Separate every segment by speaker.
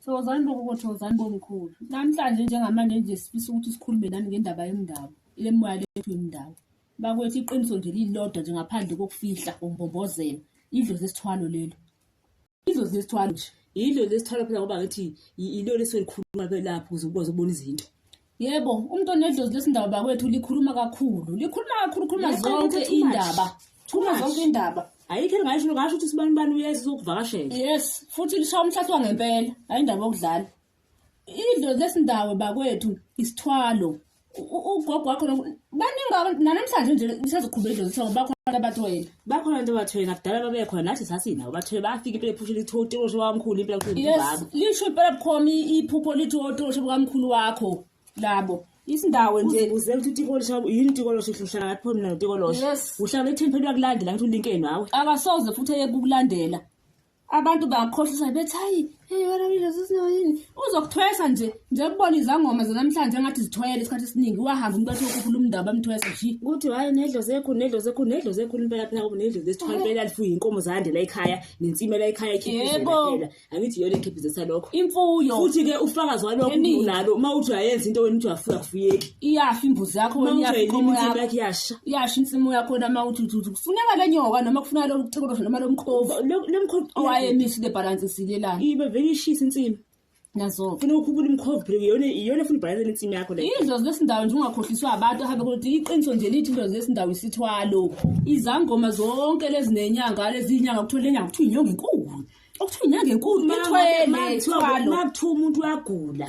Speaker 1: Thokozani bogogo, thokozani bomkhulu. Namhlanje njengamanje nje sifisa ukuthi sikhulume nani ngendaba yendawo, ile moya lethu yendawo. Bakwethu iqiniso nje lilodwa nje ngaphandle kokufihla umbombozela. Idlozi esithwalo lelo. Idlozi esithwalo nje. Yilo lesithwalo phela ngoba ngathi yilo lesolikhuluma lapho ukuze ukwazi ukubona izinto. Yebo, umuntu onedlozi lesindaba bakwethu likhuluma kakhulu. Likhuluma kakhulu, khuluma Yebo, zonke too much. indaba. Khuluma Too much. zonke indaba. ayikho elingasho ngasho ukuthi sibani bani uyeza uzokuvakashela Yes, futhi lishaya umhlathi wangempela, hayi indaba yokudlala. Idlozi lesindawo bakwethu isithwalo. U- u- Ugogo wakho no- baningi abantu- nanamhlanje nje lisazoqhubeka idlozi lesindawo bakho abantu abathwele. bakhona abantu abathwele nakudala babekhona nathi sasinabo bathwele bafika impela ephushela ithi otoshe wakamkhulu impela kuthi yes ubaba lisho impela bukhoma i- iphupho lithi otoshe bukamkhulu wakho labo isindawo nje uze ukuthi utikolosha yini utikolosha uhlala ngathi pho mina notikolosha Yes. uhlala ethini phela uyakulandela ngathi ulinkeni wawe akasoze futhi eye kukulandela abantu bangakhohlisa bethi hayi hey wena lezosino yini uzokuthwesa nje nje kubona izangoma zanamhlanje engathi zithwele isikhathi esiningi wahamba umuntu wathi ukhuphula umndaba amthwesa shi ukuthi hayi nedlo zekhu nedlo zekhu nedlo zekhu impela phela kuba nedlo zesithwala impela lifuye inkomo zande la ekhaya nensime la ekhaya ikhiphizela angithi yona ikhiphizesa lokho imfuyo futhi ke ufakazi walokho unalo uma uthi uyayenza into wena uthi uyafuna kufuyeki iyafa imbuzi yakho wena iyafa inkomo yakho yakuyasha iyasha insimu yakho na mawuthi uthi kufuneka lenyoka noma kufuneka lo kucikolo noma lo mkhovu lo mkhovu owaye miss the balance silelana ibe vele ishisa insimu nazo funa ukhubula umkhovu bro yona yona funa balance insimu yakho le izo zesindawo nje ungakhohliswa abantu ahambe kodwa iqiniso nje lithi izo zesindawo isithwalo izangoma zonke lezi nenyanga lezi inyanga kuthola inyanga kuthiwa inyanga enkulu okuthiwa inyanga enkulu ithwele ithwalo makuthiwa umuntu uyagula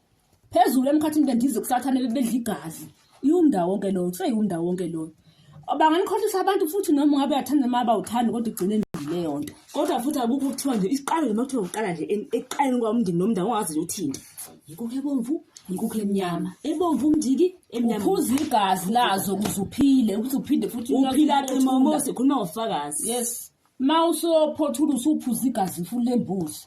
Speaker 1: phezulu emkhathini bendize kusathane bebedla igazi iwumndawo wonke loyo kuseyiwumndawo wonke loyo banganikhohlisa abantu futhi noma ungabe uyathanda noma abawuthandi kodwa igcine leyo nto kodwa futhi akukho kuthiwa nje isiqalo noma kuthiwa uqala nje ekuqaleni kwawumndini nomndawo ongazi nje uthinte yikukho ebomvu yikukho emnyama ebomvu umndiki emnyama uphuza igazi lazo ukuze uphile ukuthi uphinde futhi uphila qimomo sikhuluma ngofakazi yes ma usophothula usuphuza igazi futhi lembuzi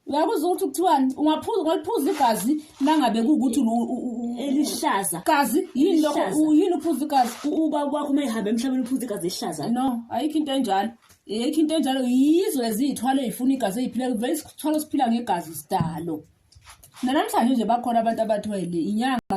Speaker 1: uyakuzwa ukuthi kuthiwani ungaphuza ungaliphuza igazi nangabe kuwukuthi elihlaza gazi yini lokho u- yini uphuza igazi uba kwakho uma ehamba emhlabeni uphuza igazi elihlaza no ayikho into enjalo ayikho into enjalo yizo eziyithwalo ey'funa igazi ey'phila vele isithwalo siphila ngegazi sidalo nanamhlanje nje bakhona abantu abathwele inyanga